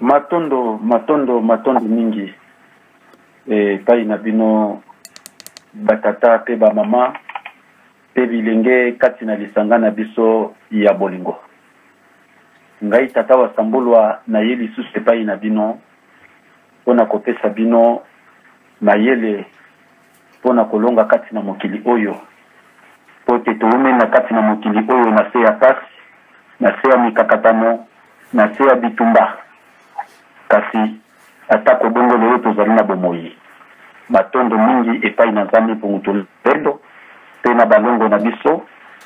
Matondo, matondo, matondo mingi epai na bino batata mpe bamama mpe bilenge kati na lisanga na biso ya bolingo. Ngai tata wa Sambulwa naye lisusu epai na bino mpo na kopesa bino mayele mpo na kolonga kati na mokili oyo, mpo ete toumeli na kati na mokili oyo na se ya pasi, na se ya mikakatano, na se ya bitumba. Kasi atako bongo, lelo tozali na bomoyi. Matondo mingi epai na Nzambe mpo moto lolendo mpe na balongo na biso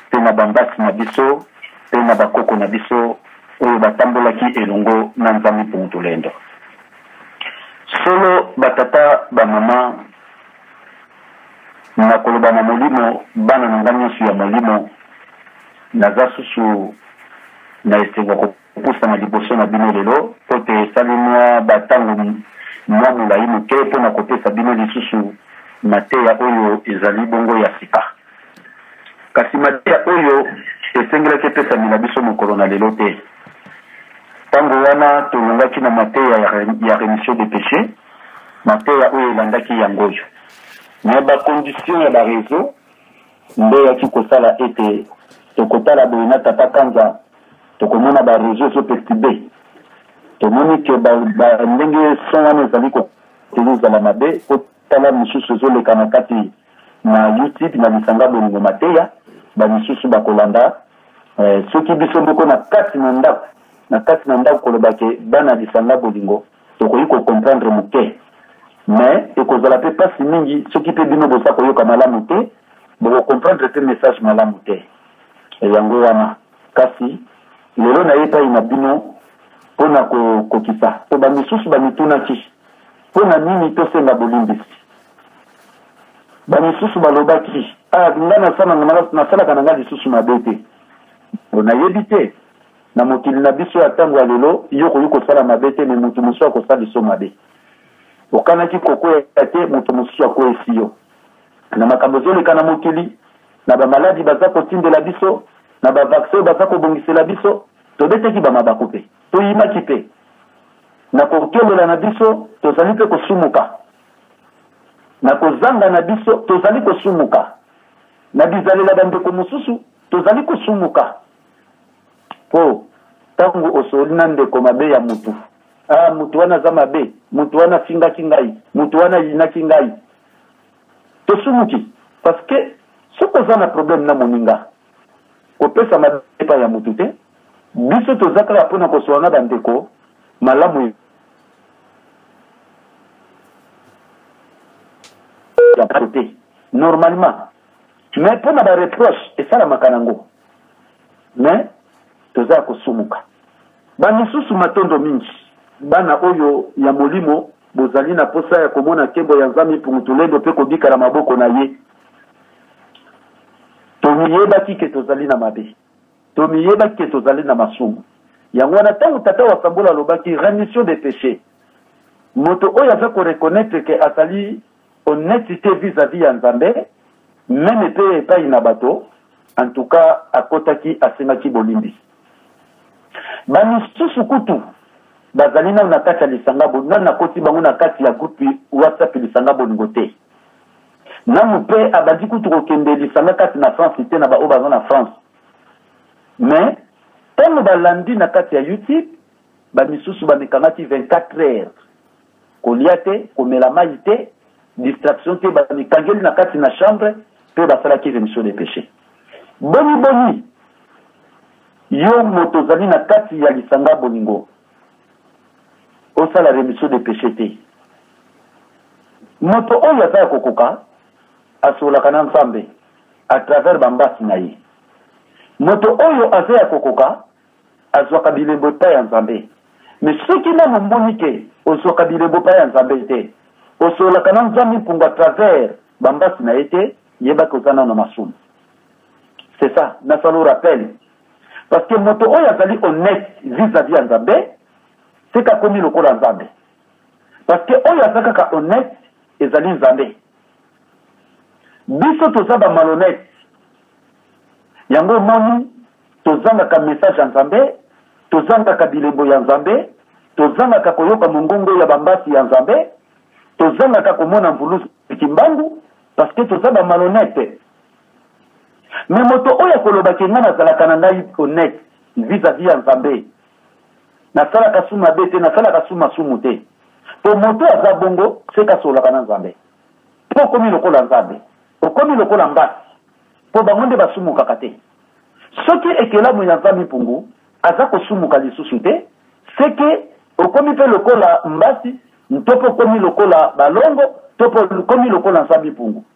mpe na bambasi na biso mpe na bakoko na biso oyo batambolaki elongo na Nzambe mpo moto lolendo. solo batata bamama nakoloba na molimo bana na ngai nyonso ya molimo naza susu na esengo kopusana liboso na bino lelo mpo te esali mwa bantango mwa molai moke mpo na kopesa bino lisusu mateya oyo ezali bongo ya sika Kasi mateya oyo esengelaki epesamela biso mokolo na lelo te. Ntango wana tolongaki na mateya ya remission de péché, mateya oyo elandaki yango oyo na bakondition ya barezo nde eyaki kosala ete tokotala boye na tata kanza tokomona barezo ezopestide tomoni ke ndenge son wana ezali kotelezala mabe otala mosusu ezoleka na kati na Utip na lisanga bolingo mateya bamisusu bakolanda eh, soki biso moko na kati na ndako na kati na ndako koloba ke bana lisanga bolingo tokoki kocomprendre moke mais ekozala mpe mpasi mingi soki mpe bino boza koyoka malamu te bokocomprendre mpe message malamu te eh, yango wana kasi lelo na ye epai na bino mpo na kokokisa mpo bamisusu bamitunaki mpo na nini tosenga bolimbisi bamosusu balobaki ah, nga nasalaka na nga lisusu mabe te mpo nayebi te na mokili na biso ya ntango ya lelo yo okoki kosala mabe te me moto mosusu akosala liso mabe okanaki kokwea te moto mosusu akweyisi yo na makambo ezoleka na mokili na bamaladi baza kotindela biso na bavaksin oyo baza kobongisela biso tobeteki bamabaku mpe toyimaki mpe na kokelela na biso tozali mpe kosumuka Na kozanga na biso, tozali kosumuka. Na bizalela bandeko mosusu, tozali kosumuka. Po, ntango osoli na ndeko mabe ya mutu, ah, mutu wana aza mabe, mutu wana afingaki ngai, mutu wana ayinaki ngai, tosumuki. Parce que soki oza na problème na moninga, kopesa mabe epai ya mutu te. Biso toza kaka mpo na kosolola na bandeko malamu te normalement mais mpo na bareproche esalamaka nango mais toza ya kosumuka bamisusu matondo mingi bana oyo ya molimo bozali na mposa ya komona nkembo ya nzambe mpungutulendo mpe kobika na maboko na ye tomiyebaki ke tozali na mabe Tomiyebaki ke tozali na masumu. Yango wana tango tata wa Sambola alobaki remission des peches, moto oyo aza ko reconnaitre ke azali honnetite vis a vis ya Nzambe meme pe epayi na bato, en tout cas akotaki asengaki bolimbisi. Ba misusu kutu bazali nanu na kati ya lisanga bolingo, nanu nakoti bango na kati ya groupe WhatsApp lisanga bolingo te. Nanu mpe abandi kutu kokende lisanga kati na France te na baoyo baza na France. Mais ntango balandi na kati ya YouTube, bamisusu bamikangaki 24 heures kolia te, komela mai te, distraction te, bamikangeli na kati na chambre mpe basalaki remission de péché. Boni boni yo moto ozali na kati ya lisanga bolingo osala remission de péché te moto oyo aza ya kokoka asololaka na nzambe à travers bambasi na ye moto oyo aza ya kokoka azwaka bilembo epai ya nzambe me soki nano omoni te ozwaka bilembo epai ya nzambe te osololaka na nzambe mpungu à travers bambasi na ye te yebaki oza nano masumu c'est ça nasala rappel Parce que moto oyo azali honnête vis-à-vis ya Nzambe, c'est qu'à komi lokola Nzambe. Parce que oyo aza kaka honnête ezali Nzambe. Biso toza ba malhonnête. Yango moni tozangaka message ya Nzambe, tozangaka bilembo ya Nzambe, tozangaka koyoka mongongo ya bambasi ya Nzambe, tozangaka komona mvuluzi kimbangu parce que toza ba malhonnête. me moto oyo akoloba ke ngai nazalaka na ngai honnête vis-à-vis ya nzambe nasalaka su mabe te nasalaka su masumu te po moto aza bongo seke asololaka na nzambe po okomi lokola nzambe okomi lokola mbasi po bango nde basumukaka te soki ekelamu ya nzambe mpungu aza kosumuka lisusu te seke okomi mpe lokola mbasi to mpe okomi lokola balongo to mpe okomi lokola nzambe mpungu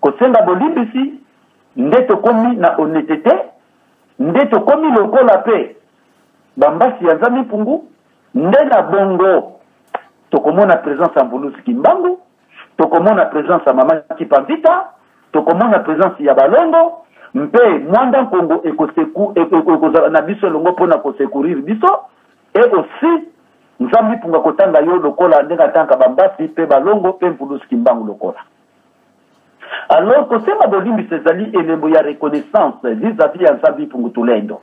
kosenga bolimbisi nde tokomi na honetete nde tokomi lokola mpe bambasi ya nzambi mpungu nde na bongo tokomona presence ya mvuluzi kimbangu tokomona presence ya mama kipamvita tokomona presence ya balongo mpe mwanda nkongo ekozala na biso elongo mpo na kosekurire biso Et aussi nzambi punga kotanga yo lokola ndenge atanka bambasi mpe balongo mpe mpulusi kimbangu lokola alors kosenga bolimbisi ezali elembo ya reconnaissance vis-à-vis ya nzambi pungu tulendo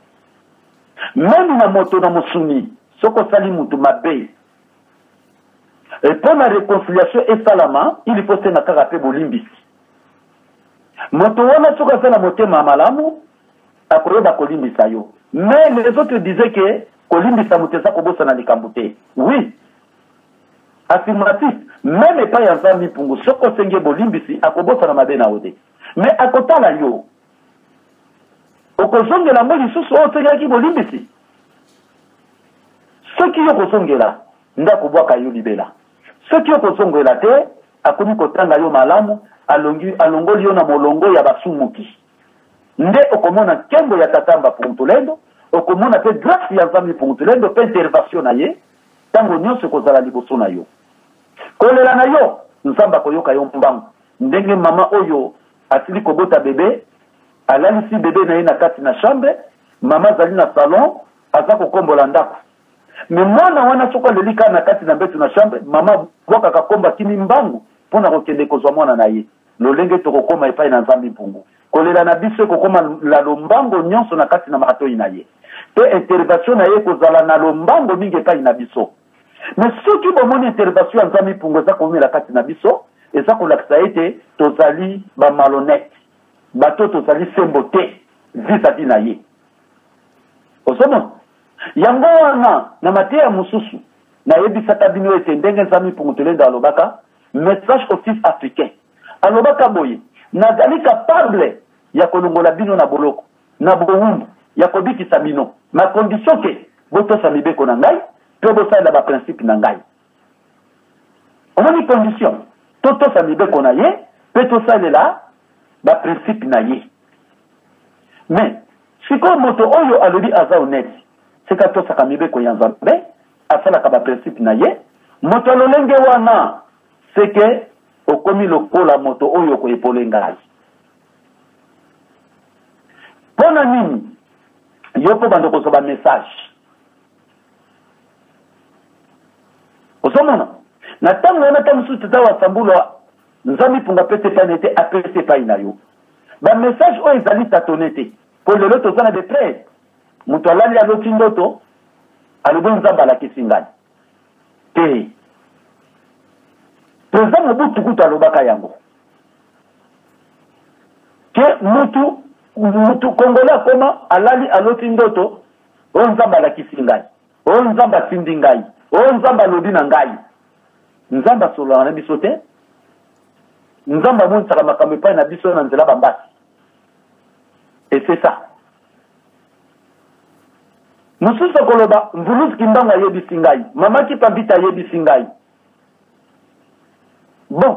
memi na moto na mosuni soki osali motu mabe mpo na reconciliation esalama ili mpo senga kaka mpe bolimbisi moto wana soki aza na motema ya malamu akoyeba kolimbisa yo mais les autres disaient que kolimbisa moto eza kobosana likambo te oui affirmatif meme epai ya nzambi mpungu soki osengi ye bolimbisi akobosana mabe na yo te mais akotala yo okozongela yango lisusu oyo osengelaki bolimbisi soki yo kozongela nde akobwaka yo libela soki yo kozongela te akomi kotanga yo malamu alongoli yo na molongo ya basumuki nde okomona nkembo ya tata mbapuntulendo okomona mpe grâce ya nzambe mpuntulendo mpe intervention na ye ntango nyonso ekozala liboso na yo kolela na yo nzambe akoyoka yo mbangu ndenge mama oyo asili kobota bebe alalisi bebe na ye na kati na chambre mama azali na salon aza kokombola ndako me mwana wana soko aleli kaka na kati na mbetu na chambre mama bwakaka komba kimi mbangu mpo na kokende kozwa mwana na ye Lolenge tokokoma epai na Nzambe mpungu. Kolela na biso ekokoma la lombango nyonso na kati na matoi na ye. Pe intervation na ye ekozala na lombango mingi epai na biso. Me soki bomoni intervation ya Nzambe mpungu eza koumela kati na biso, eza kolakisa ete tozali ba malhonnete, bato tozali sembo te vis-à-vis na ye. Ozomona? Yango wana na mateya mosusu nayebisaka bino ete ndenge Nzambe mpungu tolenda alobaka, Messages aux fils africains. Alobaka boye, nazali capable ya kolongola bino na boloko, na bowumbu, ya kobikisa bino, na condition ke botosa mibeko na ngai mpe bosalela baprincipe na ngai. Omoni condition, totosa mibeko na ye mpe tosalela baprincipe na ye. Mais sikoyo moto oyo alobi aza onete, sika tosaka mibeko ya Nzambe asalaka ba principe na ye moto ya lolenge wana seke okomi lokola moto oyo okoepole ngai mpo na nini yo mpo bando kozwa bamessage ozomona na ntango wana ntango mosusu tata wasambula nzambi mpunga apesi epai na ye te apesi epai na yo bamessage oyo ezali tatone te mpo lelo toza na deprese moto alali aloti ndoto alobi nzambe alakisi ngai te president mobutu kutu alobaka yango ke mutu mutu kongole akoma alali aloti ndoto oyo oh, nzambe alakisi ngai oyo oh, nzambe atindi ngai oyo oh, nzambe alobi na ngai nzambe asololaka na biso te nzambe amonisaka makambo epai na biso na nzela bambasi esesa mosusu okoloba mvuluzi kimbangu ayebisi ngai mama kipambita ayebisi ngai bon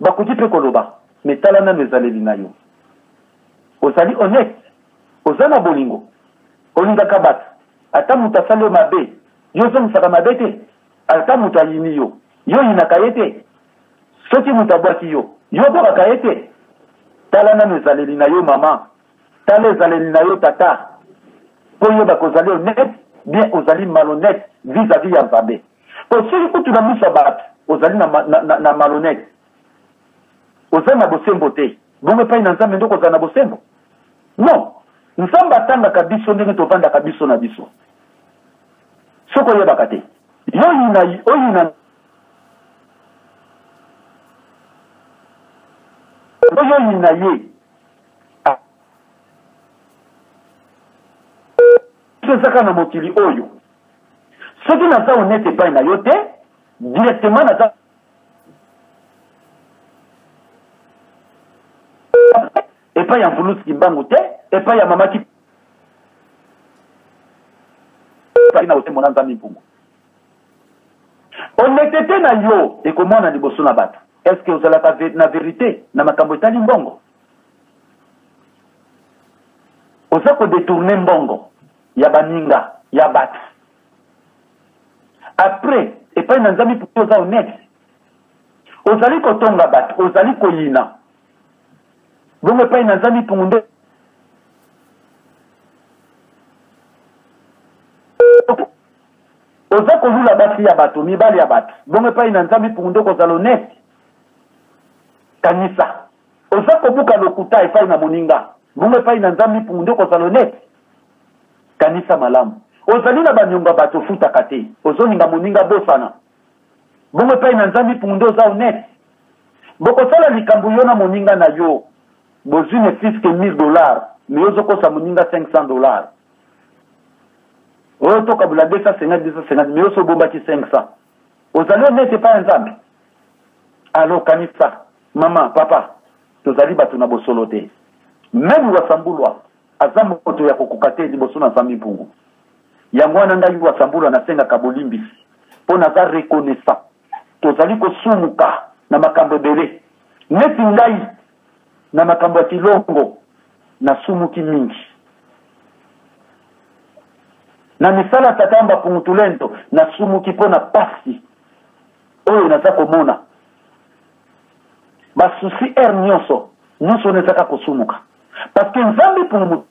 bakoki mpe koloba me tala nano ezaleli na yo ozali honnête oza na bolingo olingaka bato ata moto asali yo mabe yo ozongisaka mabe te ata moto ayini yo yo oyinaka ye te soki moto abwaki yo yo obwakaka ye te tala nano ezaleli na yo mama tala ezaleli na yo tata mpo oyeba kozali honnête bien ozali malhonnête vis-à-vis ya nzambe mpo soki kutu na miso ya bato ozali na, na, na, na malhonnête oza na bosembo te bongo epai na nzambe nde okozala na bosembo non nzambe atangaka biso ndenge tovandaka biso na biso soki oyebaka te yo oyina oyina oyo oyina ye ezaka na mokili oyo soki naza honete epai na yo te directement naza epai ya mvulusi kimbangu te epai ya mamaki na otemona nzambe mpungu honetete na yo ekomona liboso na bato eske ozalaka na verite na makambo etali mbongo oza kodetourne mbongo ya baninga ya bato apres epai na nzambe mpo oza honete ozali kotonga bato ozali koyina bongo epai na nzambe mpungu nde Oza kolula basi ya bato, mibali ya bato. Bongo epai na Nzambe ipungu nde okozala honeste? Kanisa. Oza kobuka lokuta epai na moninga. Bongo epai na Nzambe ipungu nde okozala honeste? Kanisa malamu. Ozali na banyongo ya bato ofutaka te. Ozolinga moninga bosana. Bongo epai na Nzambe ipungu nde oza honeste? Bokosala likambo yo na moninga na yo. Bozwi ne fiske 1000 dollars, me ozokosa moninga 500 dollars. oyo tokabula 250 250 mais oso obombaki 500 ozali onete epai ya nzambe alo kanisa mama papa tozali bato na bosolo te meme wasambulwa aza moto ya kokoka te liboso na zambi mpungu yango wana ngai wasambulwa nasengaka bolimbisi mpo naza reconnaissant tozali kosumuka na makambo ebele neti ngai na makambo ya kilongo nasumuki mingi na misala tata mbapungu tulendo nasumuki mpo na pasi oyo naza komona basusi ere nyonso nyonso wana ezaka kosumuka parce que nzambe pungu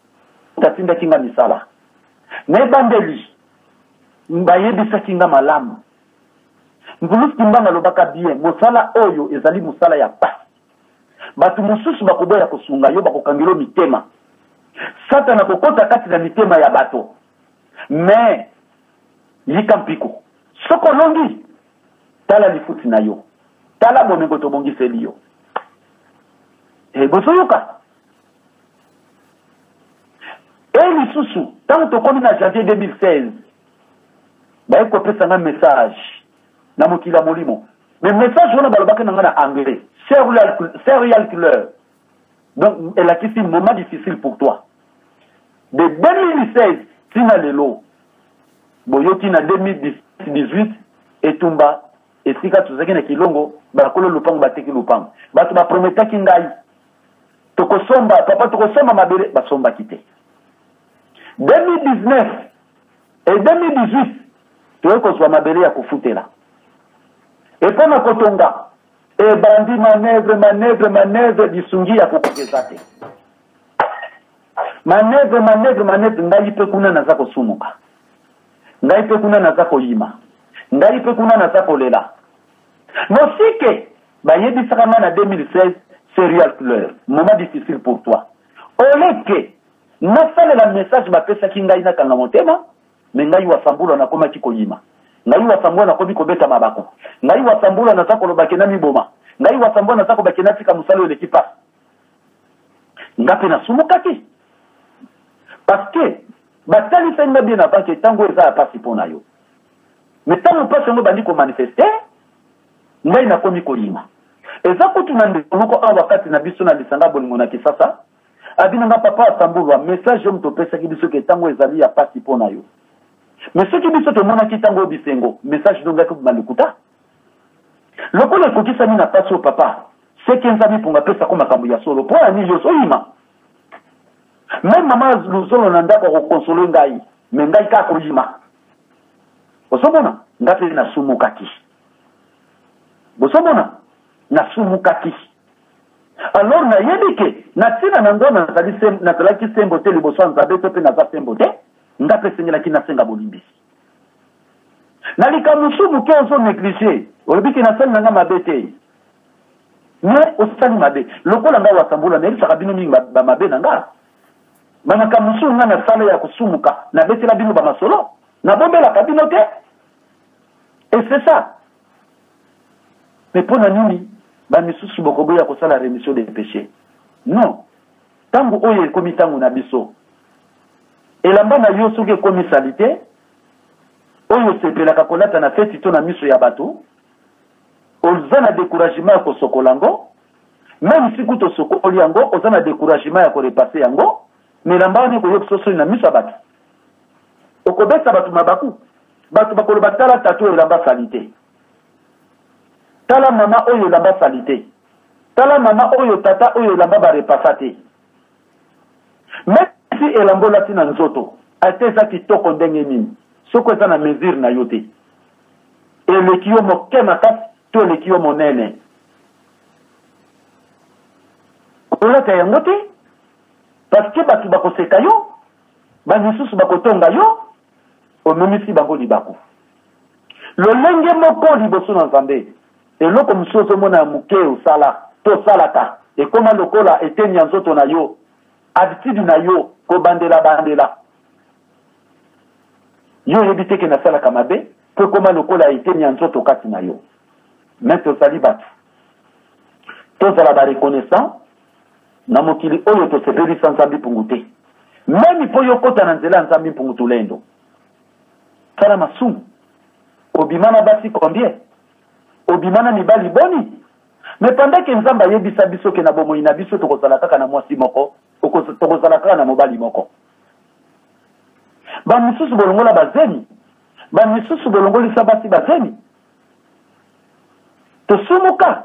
atindaki nga misala na ebandeli bayebisaki nga malamu mbulusi kimbanga alobaka bien mosala oyo ezali mosala ya pasi Bato mosusu bakoboya kosunga yo, bakokangela yo mitema. Satana akokota kati na mitema ya bato. Me yika mpiko. Soki olongi, tala lifuti na yo, tala bomengo tobongiseli yo. E, bozoyoka? E lisusu, ntango tokomi na janvier 2016, baye kopesa nga message na mokili ya molimo me message wana balobaki na ngai na anglais serial killer donc elakisi moment difficile pour toi de 2016 ntina lelo boyoki na 2018 etumba esika tozalaki na kilongo bakolo lopango bateki lopango bato baprometaki ngai tokosomba papa tokosomba mabele basombaki te 2019 Et 2018, toye kozwa mabele ya kofutela. Et mpo na kotonga, ebandi manevre, manevre, manevre, lisungi ya kokoka eza te. Manevre, manevre, manevre, ngai mpe kuna naza kosumuka. Ngai mpe kuna naza koyima. Ngai mpe kuna naza kolela. Mosike, bayebisaka ngai na 2016, serial fleur, moment difficile pour toi. Oleke, Nasalela message bapesaki ngai nakanga motema mais ngai wasambula nakomaki koyima ngai wasambula nakomi kobeta mabaku ngai wasambula naza koloba ke namiboma ngai wasambula naza koloba ke natika mosala oyo eleki mpasi nga mpe nasumukaki parce que batalisaki nga bien avant ke ntango eza ya mpasi mpo na yo mais ntango mpasi yango ebandi komanifeste ngai nakomi koyima eza kutu na ndeko moko awa kati na biso na lisanga bolingo na kisasa abi na nga papa asambulwa message yo moto opesaki biso ke ntango ezali ya mpasi mpo na yo me soki biso tomonaki ntango oyo bisengo message nongaki obima lokuta lokola ekokisami na mpasi oyo papa seke nzambe mponga apesako makambo ya solo mpo ya nini nyonso oyima meme mama luzolo na ndako akokonsole ngai me ngai kaka koyima ozomona ngai mpe nasumukaki bozomona nasumukaki alors nayebi ke na ntina na ngo nazalaki sembo te liboso ya nzambe to mpe naza sembo te nga mpe esengelaki nasenga bolimbisi na likambo mosusu moke ozo néglige olobi ke nasali na nga mabe te me osali mabe lokola ngai wasambula nayebisaka bino mingi bamabe na nga bamakambo mosusu ngai nasala ya kosumuka nabetela bino bamasolo nabombelaka bino te et c'est ça mpe mpo na nini bamisusu bokoboya kosala remission de péché non ntango oyo ekomi ntango na biso elamba na yo soki ekomi salite oyo osepelaka kolata na feti to na miso ya bato oza na decouragement ya kosokola yango meme si kutu osokoli yango oza na decouragement ya korepase yango na elamba wana ekoyokisa osoni na miso ya bato okobeta bato mabaku bato bakoloba tala tata oyo elamba salite tala mama oyo elamba salite tala mama oyo tata oyo elamba barepasa te mesi elamba olati na nzoto ata eza kitoko ndenge nini soko eza na mesure na yo te eleki yo moke makasi to eleki yo monene olata yango te parceke bato bakoseka yo bamisusu bakotonga yo onunisi bango libaku lolenge moko liboso na nzambe eloko mosusu ozomona ya moke osala tosalaka ekoma lokola eteni ya nzoto na yo habitude na yo kobandela bandela yo oyebi te ke nasalaka mabe mpo ekoma lokola eteni ya nzoto kati na yo me tozali bato tozala bareconnaissant na mokili oyo tosepeli sa nzambi mpungu te memi mpo yo okota na nzela ya nzambi mpungu tulendo sala masumu obima na basi combien obima na mibali boni me pendant ke nzambe ayebisa biso ke na bomoi na biso tokozala kaka na mwasi moko tokozala kaka na mobali moko bamisusu bolongola bazemi bamisusu bolongolisa basi bazemi tosumuka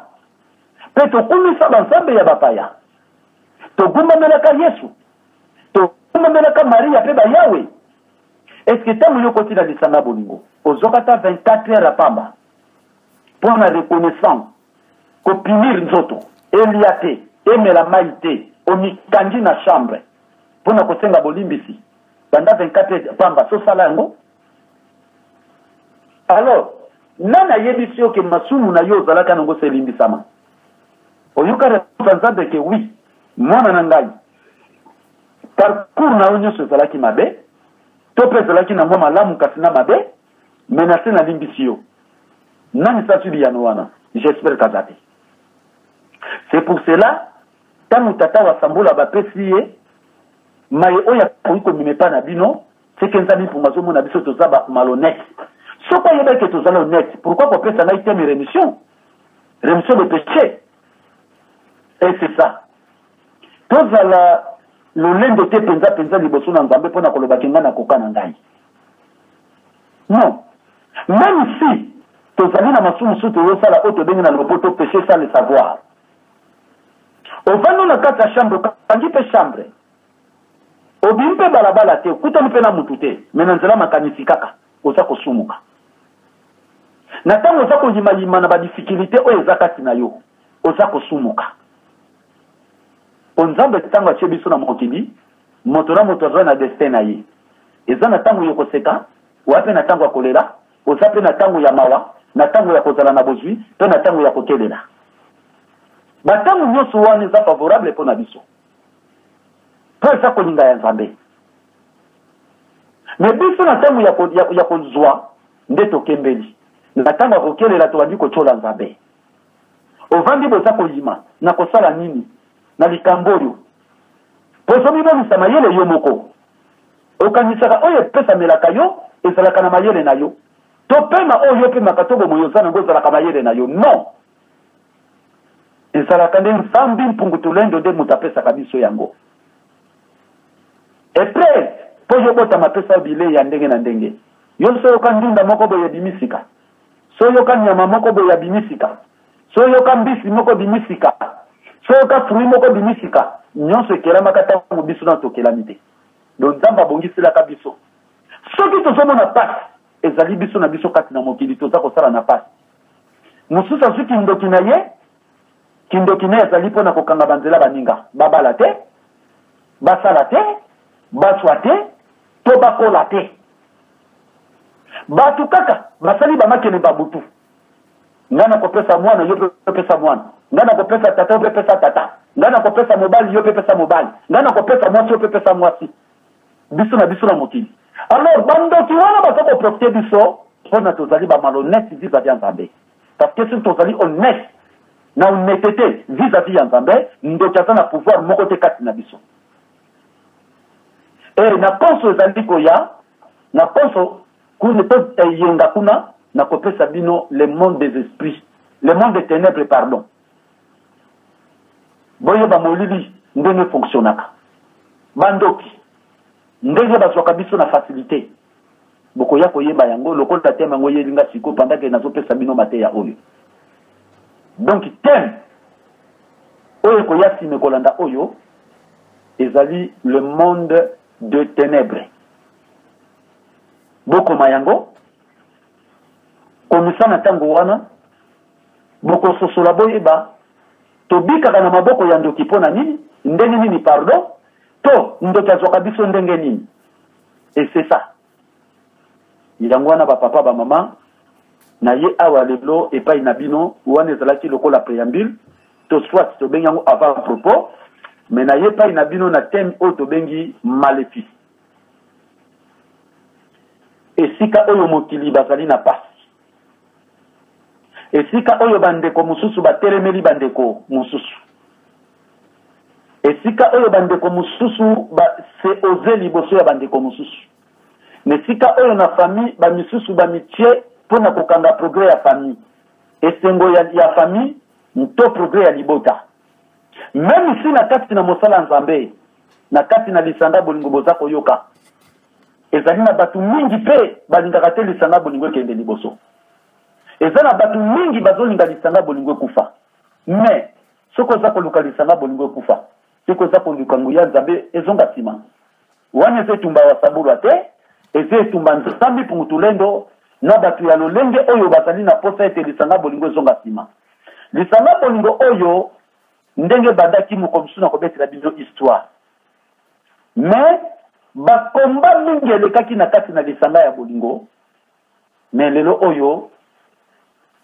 mpe tokumisa banzambe ya bapaya togumbamelaka yesu togumbamelaka maria mpe bayawe eske ntango yo okoti na lisanga bolingo ozwaka ata 24 heure ya pamba mpo na reconnaissance kopimir nzoto elia te emela mai te omikangi na chambre mpo na kosenga bolimbisi banda 24 heure pamba sosala yango alors nani ayebisi yo ke masumu na yo ozalaka nango se elimbisama oyoka reponse ya nzambe ke wi mwana na ngai parcours na yo nyonso ezalaki mabe to mpe ezalaki na mwa malamu kasi na mabe me na se nalimbisi yo nani sasi biyano wana jespere kaza te c'est pour cela ntango tata wasambola bapesi ye maye oyo akoki komema epai na bino Seke nzambi mpunga azomona biso toza ba malhonnête. Soki ayebaki que tozala honnête, pourquoi kopesa ngai teme remission? Remission de péché. Et c'est ça. Tozala lolendo te mpenza mpenza liboso na nzambe mpo na koloba ke ngai nakoka na ngai non meme si tozali na masumu mosusu tozosala oyo tobengi na lopoto péché sans le savoir ovandi na kati ya chambre okangi mpe chambre obimi mpe balabala te okutani mpe na motu te me na nzela makanisi kaka oza kosumuka na ntango oza koyimayima na badifikilite oyo eza kati na yo oza kosumuka mpo nzambe ntango atye biso na mokili moto na moto azwa na destin na ye eza na ntango yo koseka oya mpe na ntango ya kolela oza mpe na ntango ya mawa na ntango ya kozala na bozwi mpe na ntango ya kokelela bantango nyonso wana eza favorable mpo na biso mpo eza kolinga ya nzambe me biso na ntango ya kozwa nde tokembeli na ntango ya kokelela tobandi kotyola nzambe ovandi boza koyima na kosala nini na likambo oyo mpo ozomimonisa mayele yo moko okanisaka oyo epesamelaka yo ezalaka na mayele na yo to pema oyo yo opemaka to bomoyo oza nango ezalaka mayele na yo non ezalaka nde nzambi mpungu tulendo nde moto apesaka biso yango epres mpo yo botama apesa yo bilei ya ndenge na ndenge yo soyoka ndunda moko boye ebimisika soyoka nyama moko boye abimisika soyoka mbisi moko bimisika soyoka frui moko bimisika nyonso ekelamaka ntango biso na tokelami te don nzambe abongiselaka biso soki tozomona mpasi ezali biso na biso kati na mokili toza kosala na mpasi mosusu azwi kindoki na ye kindoki na ye azali mpo na kokanga banzela baninga babala te basala te baswa te to bakola te bato kaka basali bamakele babutu ngai nakopesa mwana yo opesa mwana ngai nakopesa tata yo mpe pesa tata ngai nakopesa mobali yo mpe pesa mobali ngai nakopesa mwasi yo mpe pesa mwasi biso na biso na mokili alors bandoki wana baza koprofite biso mpona tozali bamalonete vis-à-vis ya nzambe parce que soki tozali honnête na honnêtete vis-à-vis ya nzambe ndoki aza na pouvoir moko te kati na biso e na poso ezali koya na poso kuna toyenga kuna nakopesa bino le monde des esprits le monde des ténèbres pardon boyeba molili ndenge fonctionnaka bandoki ndenge bazwaka biso na facilité bokoya koyeba yango lokola teme yango oyeli nga siko pandake nazopesa bino mateya oyo donc teme oyo ekoya nsima ekolanda oyo ezali le monde de ténèbres bokoma yango komisa na ntango wana bokososola boyeba tobikaka na maboko ya ndoki mpo na nini ndenge nini pardon to ndoki azwaka biso ndenge nini esesa yango wana bapapa bamama na ye awa lelo epai na bino wana ezalaki lokola préambule to soit tobengi yango avant propos me na ye epai na bino na teme oyo tobengi malefice esika oyo mokili bazali na pasi esika oyo bandeko mosusu batelemeli bandeko mosusu esika oyo bandeko mosusu base oze liboso ya bandeko mosusu na esika oyo na famille bamisusu bamitie mpo na kokanga progrès ya famille esengo ya, ya famille nto progrès ya libota meme si na kati na mosala ya nzambe na kati na lisanga bolingo boza koyoka ezali na bato mingi mpe balingaka te lisanga bolingo ekende liboso eza na bato mingi bazolinga lisanga bolingo ekufa me soki oza koluka lisanga bolingo ekufa soki oza koluka nguya nzambe ezonga nsima wana eza etumba ya sabulwa te eza etumba nzambi pungutulendo na bato ya lolenge oyo bazali na mposa ete lisanga bolingo ezonga nsima lisanga bolingo oyo ndenge ebandaki mokolo mosusu na kobetela bino histoire me bakomba mingi elekaki na kati na lisanga ya bolingo me lelo oyo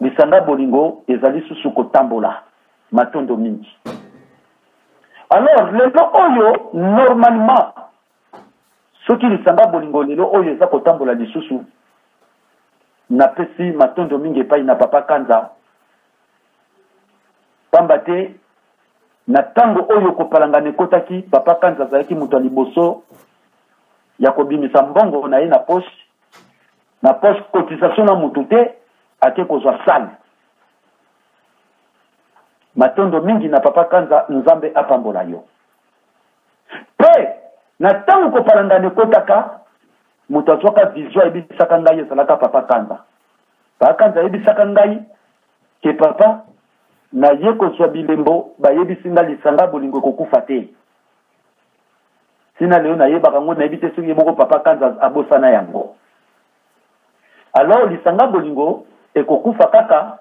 lisanga bolingo ezali susu kotambola matondo mingi alors lelo oyo normalement soki lisanga bolingo lelo oyo eza kotambola lisusu napesi matondo mingi epai na papa kanza pamba te na ntango oyo kopalangana ekotaki papa kanza azalaki moto ya liboso ya kobimisa mbongo na ye na poche na poche cotisation na motu te ake kozwa sale matondo mingi na papa kanza nzambe apambola yo mpe na ntango kopalangana ekotaka moto azwaka vision ayebisaka ngai ezalaka papa kanza papa kanza ayebisaka ngai Ke papa, naye kozwa bilembo, bayebisi nga lisanga bolingo ekokufa te. Tina leo nayebaka yango, nayebi te soki ye moko papa Kanza abosana yango. Alors lisanga bolingo ekokufa kaka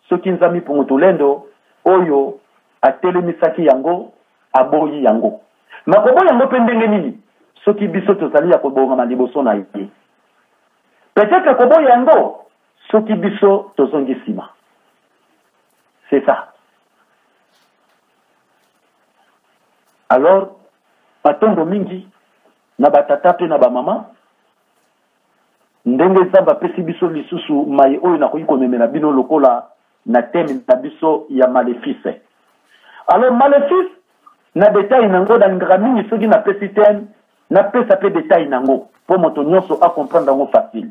soki Nzami Pungutulendo oyo atelemisaki yango aboyi yango. Makoboya yango mpe ndenge nini? soki biso tozali ya kobongama liboso na ye peut-être koboya yango soki biso tozongi nsima c'est ça alors matondo mingi na batata mpe na bamama ndenge nzambe apesi biso lisusu mai oyo nakoki komemela bino lokola na teme na biso ya malefice alors malefice na detail na yango nalingaka mingi soki napesi teme napesa mpe detail na yango mpo moto nyonso acomprendre yango facile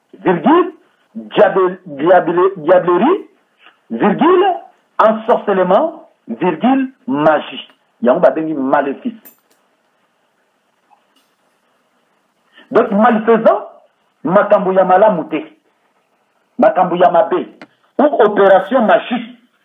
Virgule, diable, diable, diablerie, virgule, ensorcelement, virgule, magie. yango babengi malefice donc malfaisant makambo ya malamu te makambo ya mabe ou opération magique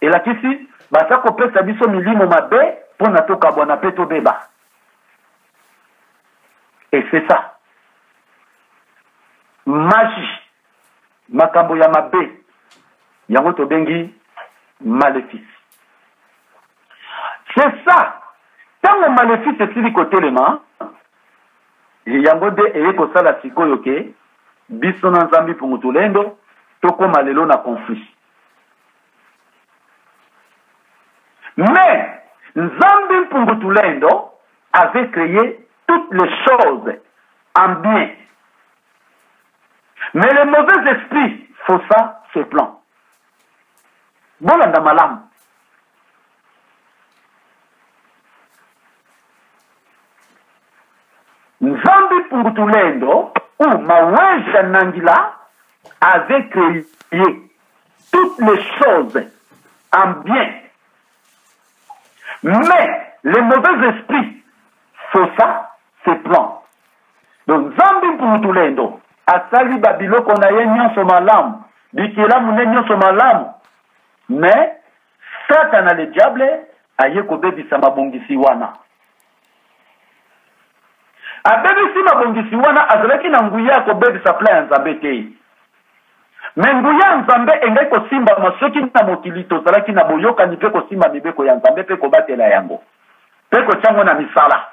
Elakisi baza kopesa biso milimo mabe mpo na tokabwana mpe tobeba. Et c'est ça. Magie, makambo ya mabe, yango tobengi maléfice. C'est ça. Ntango maléfice esili kotelema, yango nde eye kosala sikoyo ke biso na nzambi pungutulendo tokóma lelo na conflit. Mais, Nzambi Mpungu Tulendo avait créé toutes les choses en bien. Mais les mauvais esprits faussa ses plans. Bolanda malam. Nzambi Mpungu Tulendo ou Maweja Nangila avait créé toutes les choses en bien. Mais les mauvais esprits font ça, c'est plan. Donc, Zambi Mputulendo, asali babiloko na ye nyonso malamu bikelamu ne nyonso malamu mais satana le diable aye kobebisa mabongisi wana abebisi mabongisi wana azalaki na nguya ya kobebisa plan ya nzambe te me nguya ya nzambe engai kosimbama soki na mokili tozalaki na boyokani mpe kosimba mibeko ya nzambe mpe kobatela yango mpe kotya yango na misala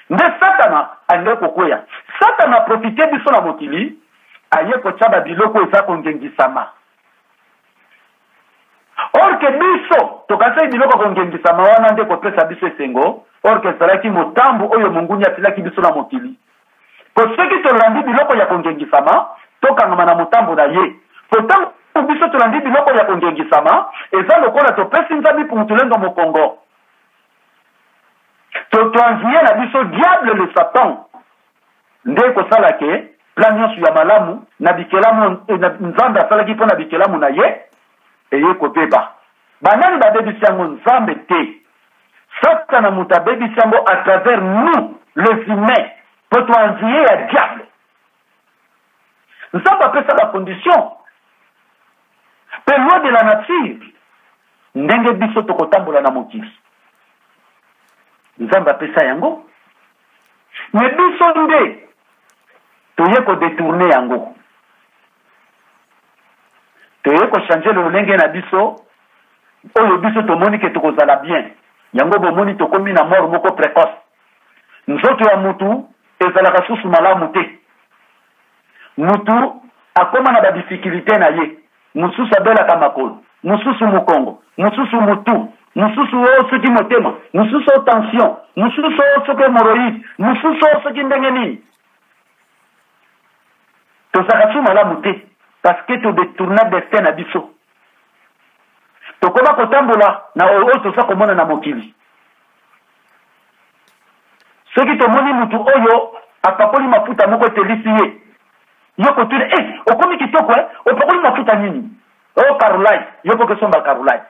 nde satana alingi kokweya satana aprofite biso na mokili aye kotya babiloko eza kongengisama orke biso tokanisaki biloko ya kongengisama wana nde kopesa biso esengo orke ezalaki motambo oyo monguni atilaki biso na mokili mpo soki tolandi biloko ya kongengisama tokangama na motambo na ye mpo ntango biso tolandi biloko ya kongengisama eza lokola topesi nzambe pungutulendo mokongo totwanzi ye na biso diable le satan nde kosala ke plan nyonso ya malamu na bikelamu eh, na, nzambe asalaki mpo na bikelamu na ye eye kobeba banani babebisi yango nzambe te satana moto abebisi yango à travers nous les humains mpo toanziye ya diable nzambe apesa bacondition mpe loi de la nature Ndenge biso tokotambola na mokili, Nzambe apesa yango, me biso nde toye kodetourne yango, toye kochange lolenge na biso oyo biso tomoni ke tokozala bien. Yango bomoni tokomi na mort moko precoce. Nzoto ya mutu ezalaka susu malamu te, mutu akoma na badifficulté na ye. mosusu abelaka makolo, mosusu mokongo, mosusu motu, mosusu o oh, soki motema, mosusu o oh, tension, mosusu o oh, soki hemoroïde, mosusu o soki ndenge nini. tozalaka su malamu te parce que todetourna destin na biso tokoba kotambola na oyo oyo toza komona na mokili soki tomoni motu oyo apakoli mafuta moko etelisi ye yo kotuna e eh, okomi kitoko e opakoli mafuta nini o oh, carolite yo koki osomba carolite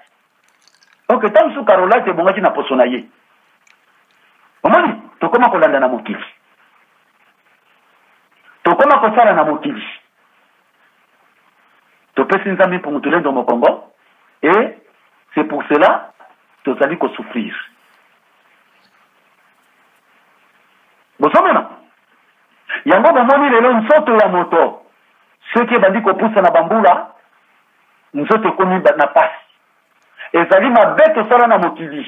ok ntango mosusu carolite ebongaki na poso na ye omoni tokoma kolanda na mokili tokoma kosala na mokili topesi nzambe mpungu tulendo mokongo et c'est pour cela tozali kosouffrir bozomona yango bomoni lelo nzoto ya moto soki ebandi kopusa na bambula nzoto ekomi na pasi ezali mabe tosala na mokili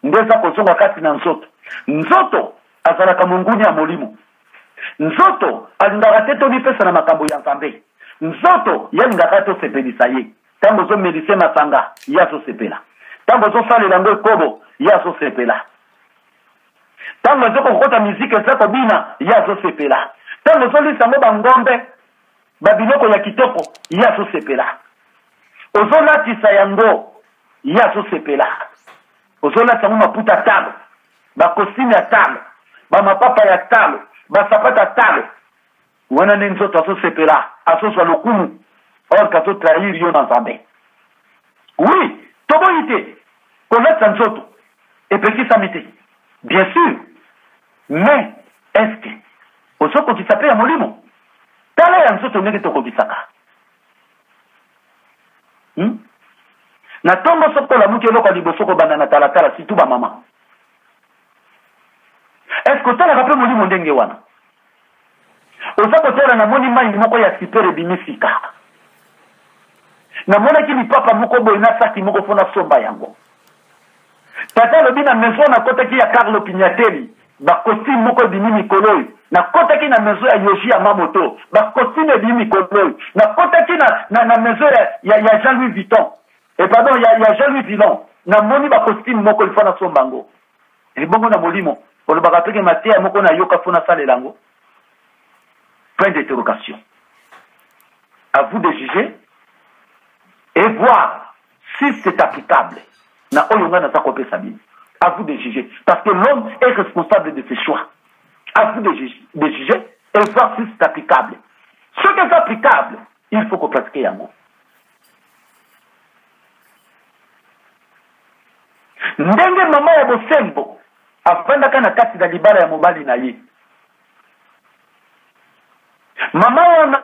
nde eza kozonga kati na nzoto nzoto azalaka monguni ya molimo Nzoto alingaka te tomipesa na makambo ya Nzambe. Nzoto ye alingaka tosepelisa ye. Ntango ozomelise masanga, ye azosepela. Ntango ozosalela yango ekobo, ye azosepela. Ntango ezo kokota miziki eza kobina, ye azosepela. Ntango ozolisa yango bangombe, babiloko ya kitoko, ye azosepela. Ozolatisa yango, ye azosepela. ozolata yango maputa ya talo bakosime ya talo bamapapa ya talo basapata ya talo wana nde nzoto azosepela azozwa lokumu orke azotrahir yo na nzambe wi toboyi te kolatisa nzoto epekisami te bien sûr mais eske ozokokisa mpe ya molimo tala ya nzoto ndenge tokokisaka hmm? na ntongo soki tolamuki eloko ya liboso kobanda na talatala situ bamama eske otalaka mpe molimo ndenge wana oza kotala namoni mai moko ya sipere ebimi sika namonaki lipapa moko boye na saki moko mpo nasomba yango Tata alobi na maison nakotaki ya Carlo Pignatelli ba costume moko ebimi mikolo oyo nakotaki na maison ya Yoshi ya Mamoto ba costume ebimi mikolo oyo nakotaki na, na, na maison ya, ya, ya Jean Louis Vuitton e eh, pardon ya, ya Jean Louis Villon namoni ba costume moko ilfo nasomba yango ebongo na molimo olobaka toke mateya moko nayoka mpo nasalela yango point d'interrogation à vous de juger et voir si c'est applicable na oyo ngai naza kopesa bino à vous de juger parce que l'homme est responsable de ses choix à vous de, de juger et voir si c'est applicable ce qui est applicable il faut kopratiquer yango ndenge mama ya bosembo afandaka na kati na libala ya mobali na ye mama wana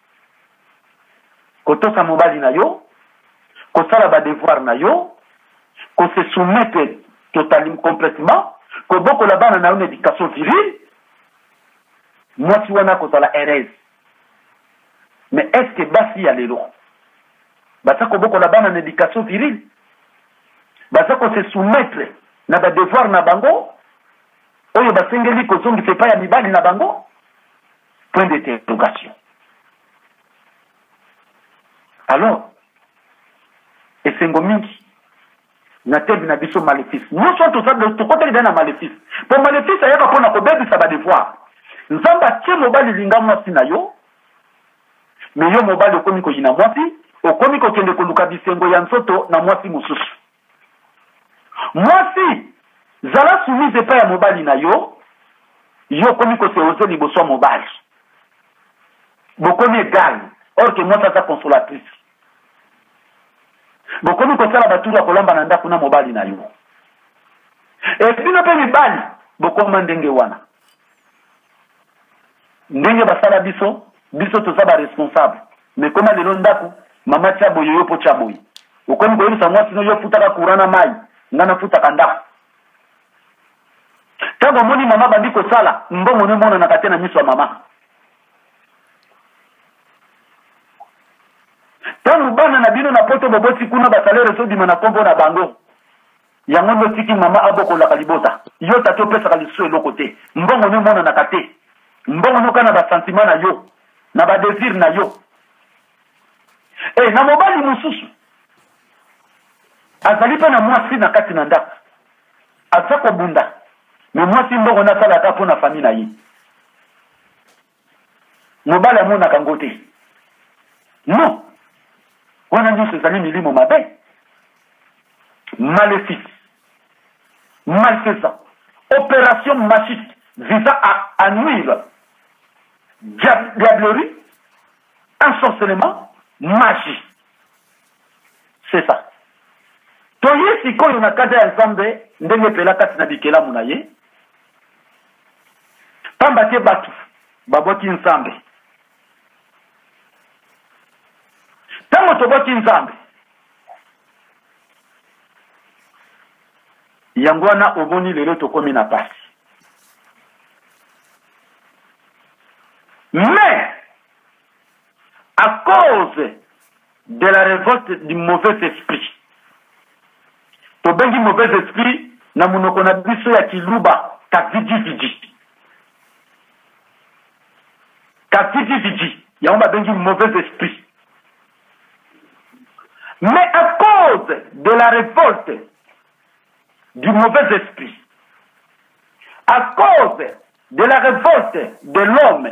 kotosa mobali na yo kosala badevoir na yo kose soumettre totalim complètement kobokola bana na yo na éducation virile mwasi wana akozala heureuse mais est ce que basi ya lelo baza kobokola bana na éducation virile baza kose soumettre na badevoir na bango oyo basengeli kozongisa epai ya mibali na bango Point d'interrogation. Alors, esengo mingi na tebe na biso malefice nyonso wana toza tokotaki dai na malefice mpo malefice ayaka mpo na kobebisa badevoir nzambe atie mobali linga mwasi na yo me yo mobali okomi koyina mwasi okomi kokende koluka bisengo ya nzoto na mwasi mosusu Mwasi, zala soumise epai ya mobali na yo. Yo okomi kose oze liboso ya mobali, bokomi egal, or que mwasi aza consolatrice. Bokomi kosala baturu ya kolamba na ndako na mobali na yo, e bino mpe mibali bokoma ndenge wana. ndenge basala biso biso toza ba responsable mais koma lelo ndako mama tia boye yo mpo tia boye okomi koyebisa mwasi no yo ofutaka courant na mai nga nafutaka ndako ntango omoni mama bandi kosala mbongo no emonanaka te na miso ya mama ntango bana na bino na poto boboti kuna basalaire ezobima na nkombo na bango yango nde otiki mama abokolaka libota yo tata opesaka lisusu eloko te mbongo nde emonanaka te mbongo noka na basantima na yo na badesir na yo e na mobali mosusu azali mpe na mwasi na kati na ndako aza kobunda me mwasi mbongo nasalaka mpo na fami na ye mobali amonaka ngo te non wana nyonso ezali milimo mabe malefice malfaisant opération magique visant à, à nuire diablerie ensorcelement magie c'est ça toye sikoyo na kanda ya nzambe ndenge epela kati na bikelamu na ye pamba te bato babwaki nzambe ntango tobwaki nzambe yango wana omoni lelo tokomi na pasi mais à cause de la revolte du mauvais esprit tobengi mauvais esprit na monoko na biso ya kiluba kavidividi kavidividi yango babengi mauvais esprit mais à cause de la revolte du mauvais esprit à cause de la revolte de l'homme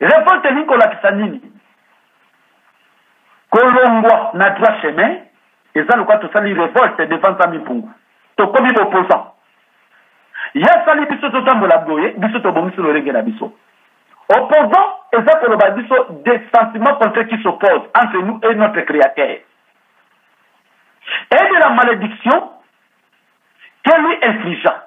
Revolte elingi kolakisa nini? Kolongwa na droit chemin eza lokola tosali revolte devant Nzambi Mpungu, tokomi bopozan. Ye asali biso totambola boye, biso tobongisi lolenge na biso. Opposant eza koloba biso des sentiments contraires qui s'opposent entre nous et notre créateur. Et de la malédiction que lui infligea.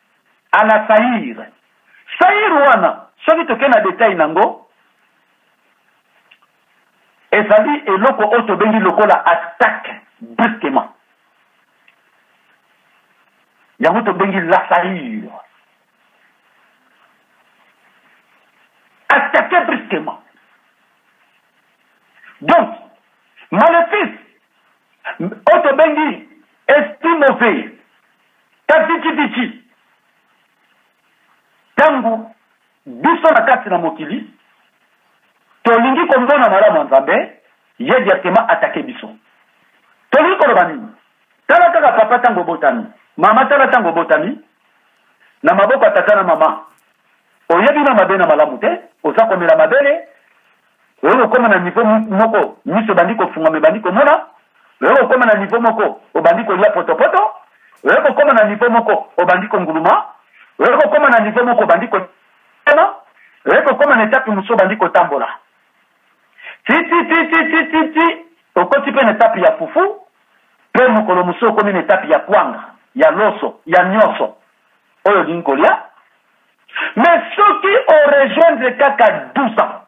à la sair sair wana soki tokei na detail nango ezali eloko oyo tobengi lokola attaque brusquement yango tobengi la sair attaque brusquement donc malefice oyo tobengi esprit mauvais Kasi kititi, ntango biso na kati na mokili tolingi komona malamu ya Nzambe, ye directement atake biso. Tolingi koloba nini? Tala kaka papa ntango obotami, mama tala ntango obotami na maboko ya tata na mama, oyebi na mabe na malamu te, oza komela mabele oyo kokoma na nivo moko miso ebandi kofungama ebandi komona oyo kokoma na nivo moko obandi kolia potopoto oyo kokoma na nivo moko obandi konguluma oyo kokoma na nivo moko obandi kotema oyo kokoma na etape mosusu obandi kotambola tititititititi okoti mpe na etape ya fufu mpe mokolo mosusu okomi na etape ya kwanga ya loso ya nyonso oyo olingi kolia mais soki orejoindre kaka 12 ans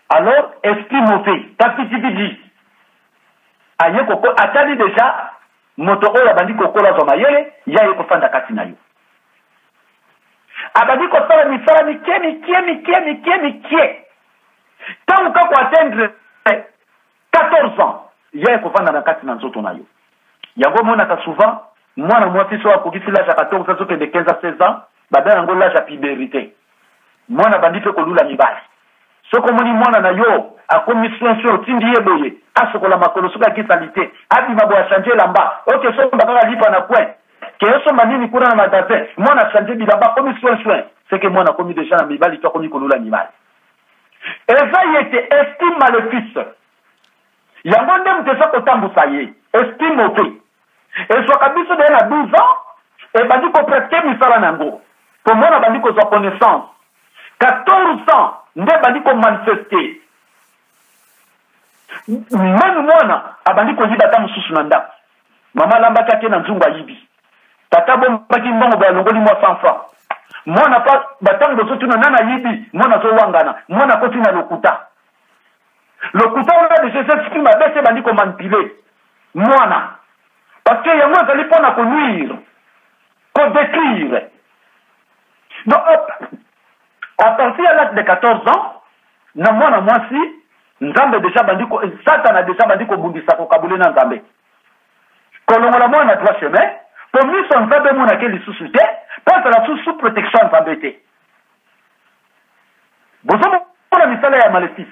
alors esprit mauvais kapitipiti aye koko atali deja moto oyo abandi kokola azwa mayele ye aye kofanda kati na yo abandi kosala misala mikie mikie mikie mikie mikie ntango kaka atendre 14 ans ya ekovanda na kati na nzoto na yo yango omonaka souvent mwana mwasi so akokisi lage ya 14 azokende 15 a 16 ans babela yango lage ya puberite mwana bandi mpe kolula mibali soki omoni mwana na yo akomi soin soin otindi ye boye asokola makolo soki ake salite abima boye achange elamba oke somba kaka lipa na coin keye somba nini kuna na magasin mwana achange bilamba akomi soin soin seke mwana akomi deja na mibali to akomi kolula mibali eza ye te esprit malefice yango nde moto eza kotambusa ye esprit moke ezwaka biso deye na 12 ans ebandi kopratike misala na yango po mwana abandi kozwa connaissance 14 ans nde ebandi komanifeste meme mwana abandi koyiba ata mosusu na ndako Mama alambaki ake na nzungu ayibi. Tata bombaki mbongo boye alongoli mwa 100 francs. Mwana pa batango bozotuna nani ayibi, mwana azowangana, mwana akoti na lokuta. Lokuta wana deja eza esprit mabe se ebandi komanipule mwana. Parce que yango ezali mpo na konuire, kodetruire. Donc à partir ya l'âge de 14 ans na mwana mwasi nzambe deja bandi satana deja bandi kobundisa kokabule na nzambe kolongola mwana na droit chemin mpo miso ya nzambe emonake lisusu te mpo azala lisusu sous protection ya nzambe te bozomona misala ya malefice